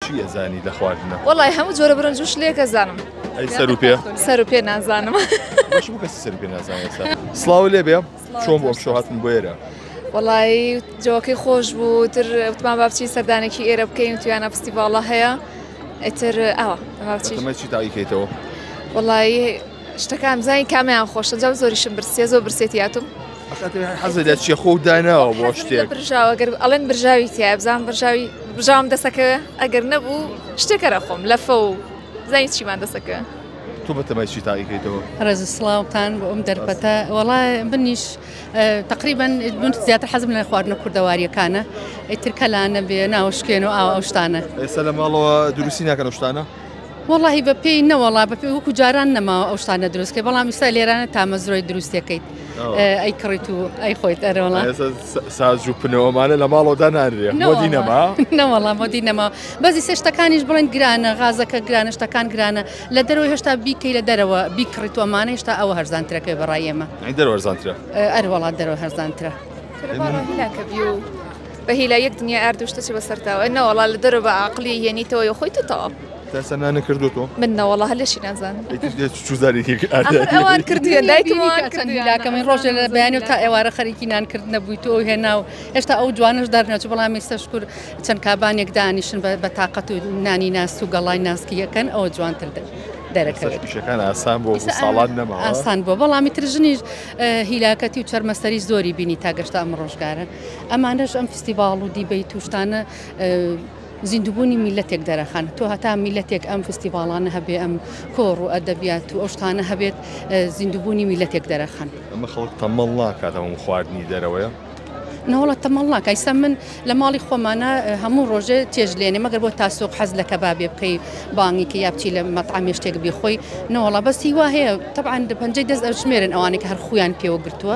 چی ئەزانی لە خواردنە؟ وەڵای هەموو جۆرە برنج و شلێک ئەزانم. ئەی سەر و پێ؟ سەر و پێ نازانم. بەش بوو کەسی سەر و پێ نازانێت سا. سڵاو لێ بێ چۆن بۆ شۆ هاتن بۆ ئێرە؟ وەڵایی جۆکەی خۆش بوو تر وتمان با بچین سەردانێکی ئێرە بکەین تویانە فستیڤاڵە هەیە ئیتر ئەوە ئەمە چی؟ مەچی تاقیکەیتەوە. وەڵایی شتەکان بزانی کامیان خۆشە جاو زۆریشم برسیە زۆر برسێتی هاتوم حەزە لە چیە خۆ داناوە بۆ شتێک برژاوە گەر ئەڵێن برژاوی تیا بزان برژاوی بژاوم دەسەکە ئەگەر نەبوو شتێکەرە خۆم لە فە و زای چیمان دەسەکە تۆ بەتەمای چی تاقیکەیتەوە ڕێز سلااوان بۆ ئەم دەرپەتە وڵا بنیش تقریبان من زیاتر حەزم لە خواردنە کوردەواریەکانە ئەیترکەلانە بێ ناوشکێن و ئاوشتانە ئێستا لە ماڵەوە دروستی ناکەن شتانە وەڵاهی بە پێی نەوەڵا بە پێ وەکو جاران نەماوە ئەو شتانە دروست کە بەڵام ئیستا لێرانە تامەزرۆی دروستەکەیت ئەی کڕیت و ئەی خۆیت ئەرەوەڵا ساز و پنەوەمانە لە ماڵەوەدا نانرێ مۆدی نەما نەوەڵا مۆدی نەما بەزی سێ شتەکانیش بڵێن گرانە غازەکە گرانە شتەکان گرانە لە دەرەوە هێشتا بیکەی لە دەرەوە بیکڕیت وەمانە هێشتا ئەوە هەرزانترەکەی بەڕای ئێمە دەروەرزانترە ئەروەڵات دەرەوە هەرزانترە. بە هیلا یەک دنیای ئارد و شتەچی بەسەرتاوە نەوەڵا لە دەرەوە بە ئاقلی یەنیتەوە یۆ خۆی تو تەواو تاسە نانە کردو تۆ من نەوەڵا هەر لەشی نازان چوزارێکی ئەوان کردوە دایکمان کردولاکەمە ڕۆژێ لە بەیانی و تا ئێوارە خەریکی نانکرد نەبووی تۆ هێنا و هێشتا ئەو جوانش دەرنەچ بەڵام ئێستا شکر چەند کابانێک دانیشن بە تااقەت و نانی ناس و گەڵای ناسکی یەکەن ئەوە جوانتر دەن دەرەکەوێت پیشەکان ئاسان بۆ ساڵات نەما ئاسان بۆ بەڵامی تر ژنیش هیلاکەتی و چەرمەسەری زۆری بینی تا گەشتا ئەم ڕۆژگارە ئەمانەش ئەم فستیڤاڵ و دیبەیت و شتانە زیندووبوونی میلەتێک دەرەخەن تۆ هەتا میلەتێک ئەم فستیڤاڵانە هەبێ ئەم کۆڕ و ئەدەبیات و ئەو شتانە هەبێت زیندووبوونی میلەتێک دەرەخەن ئەمە خەڵک تەمەڵ ناکات ئەم خواردنی دەرەوەیە؟ نەوەڵا تەمەڵ ناکە ئیستا من لە ماڵی خۆمانە هەموو ڕۆژێ چێژ لێنێ مەگەر بۆ تاسۆک حەز لە کەبابێ بکەی بانگی کە یا بچی لە مەتعامێ شتێک بیخۆی نەوەڵا بەس هیوا هەیە تەبعەن دە پەنجەی دەست ئەژمێرن ئەوانێک هەر خویان پێوە گرتووە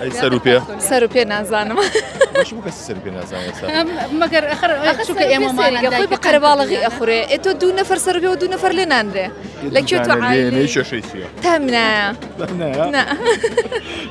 ئەی سەر و پێ سەر و پێ نازانم مەگەر چکە ئێمە خۆی بە قەرەباڵغی ئەخورێ ئێ تۆ دوو نەفەر سەر پێ و دوو نەفەر لێ نانرێ لە کوێ تۆ شەشەی تامنایە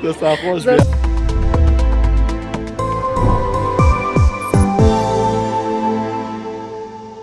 دەستا خۆش بێت.